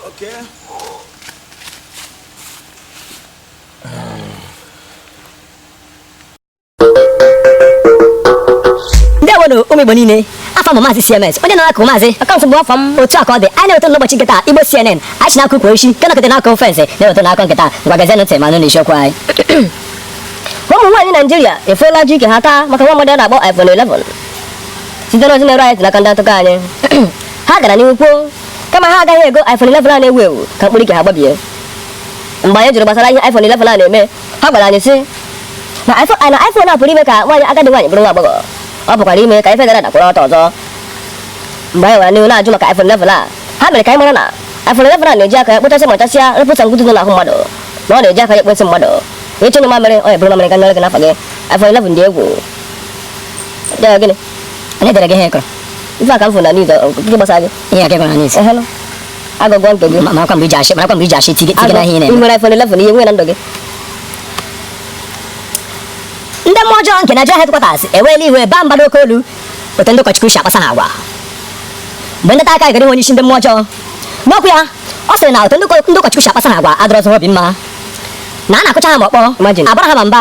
Okay. ndewonụ ụmụ igbo niile afa m maazị cms onye na-akụ maazị akaụntụ bụ afa m otu a ka ọ dị anyị na-eweta n'ụbọchị nke taa igbo cnn anyị si n'akụkụ oisi nke nọkọta n'akụ ofense na-eweta akụkọ nke taa ngwa geezie ntị ma nụ n'isiokwu anyị ụmụ nwaanyị naijiria efuola ji ike ha taa maka nwa mmadụ a na-akpọ iphone 11 site n'ozi na-eru anyị ntị n'aka ndị ntaakụkọ anyị Ha gara n'ihu kwuo kama ha agaghị ego iPhone 11 a na-ewu ewu ka mkpụrụ ike ha gbabie mgbe anyị jụrụ gbasara ihe iPhone 11 a na-eme ha gwara anyị sị na iPhone na iPhone a pụrụ ime ka nwaanyị agadi nwaanyị bụrụ nwa agbọghọ ọ pụkwara ime ka ife dara ada kwụrụ ọtọ ọzọ mgbe anyị gara n'ihu na-ajụ maka iPhone 11 a ha mere ka anyị mara na iPhone 11 a na-eji aka ya kpochasị machasịa rụpụta ngudu dị n'ahụ mmadụ na ọ na-eji aka ya ekpo nsị mmadụ ị chọọ ịnyụ mamịrị ọ eburu mamịrị ka nyere gị n'afọ gị iPhone 11 dị egwu Ọ dịghị gịnị onye dere gị ihe ị kụrụ ife a ka m fụ na news ọ- ọ- nke gbasara gị ihe a ka gwara n'isi ehelụ agụgọ nke gị Ma- marakwa mgbe i ji achị marakwa mgbe i ji achị tige tige na ihe ị ị na-eme nwere iPhone 11 ihe nwee na ndụ gị ndị mmụọ ọjọọ nke Nigeria headquarters eweela iwe baa mba n'oke olu otu ndị ụkọchukwu si akpasa ha agwa mgbe ndị aka gara ịhụ onye isi ndị mmụọ ọjọọ n'okwu ya ọ sịrị na otu ndị ụkọ- ndị ụkọchukwu si akpasa ha agwa adịrọzị ha obi mma na a na-akụcha ha ma ọkpọ Imagine. abara ha ma mba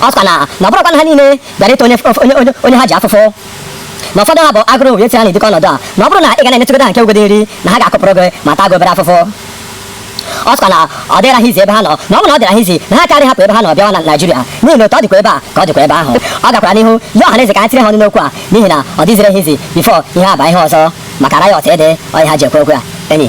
ọ sịkwa na na ọ bụrọkwa na ha niile bịara ịta onye onye onye onye ha ji afụfụ na ụfọdụ ha bụ agụrụ wee tinye ha n'ụdị ọnọdụ a na ọ bụrụ na ị ga na-enyetụgodu ha nke ugodi nri na ha ga-akụpụrụ gị ma taa gị obere afụfụ ọ sịkwa na ọ dịrọ ha easy ebe ha nọ na ọ bụ na ọ dịrọ ha easy na ha kara hapụ ebe ha nọ bịawa na Naịjirịa n'ihi na otu ọ dịkwa ebe a ka ọ dịkwa ebe ahụ ọ gakwara n'ihu yọọ ọha na eze ka ha tiri ha ọnụ n'okwu a n'ihi na ọ dịzirọ ha easy before ihe a abaa ihe ọzọ maka riot ede ọ ihe ha ji ekwu okwu a enyi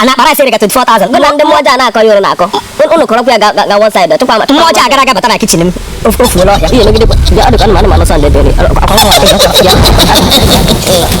a na akpa rice erigo 24,000 bụ na ndị mmụọ ọjọọ a na-akọ ya unu na-akọ Un- unu kọrọkwa ya ga- ga- ga one side ọ chụkwa ma mmụọ ọjọọ agara aga bata na kitchen m ofu ofu n'ọhịa ihe megide kwa- bịa, ọ dịkwa anụmanụ anụmanụ sọnde bịa, bịa, akwa nwa ọhịa, akwa nwa ọhịa.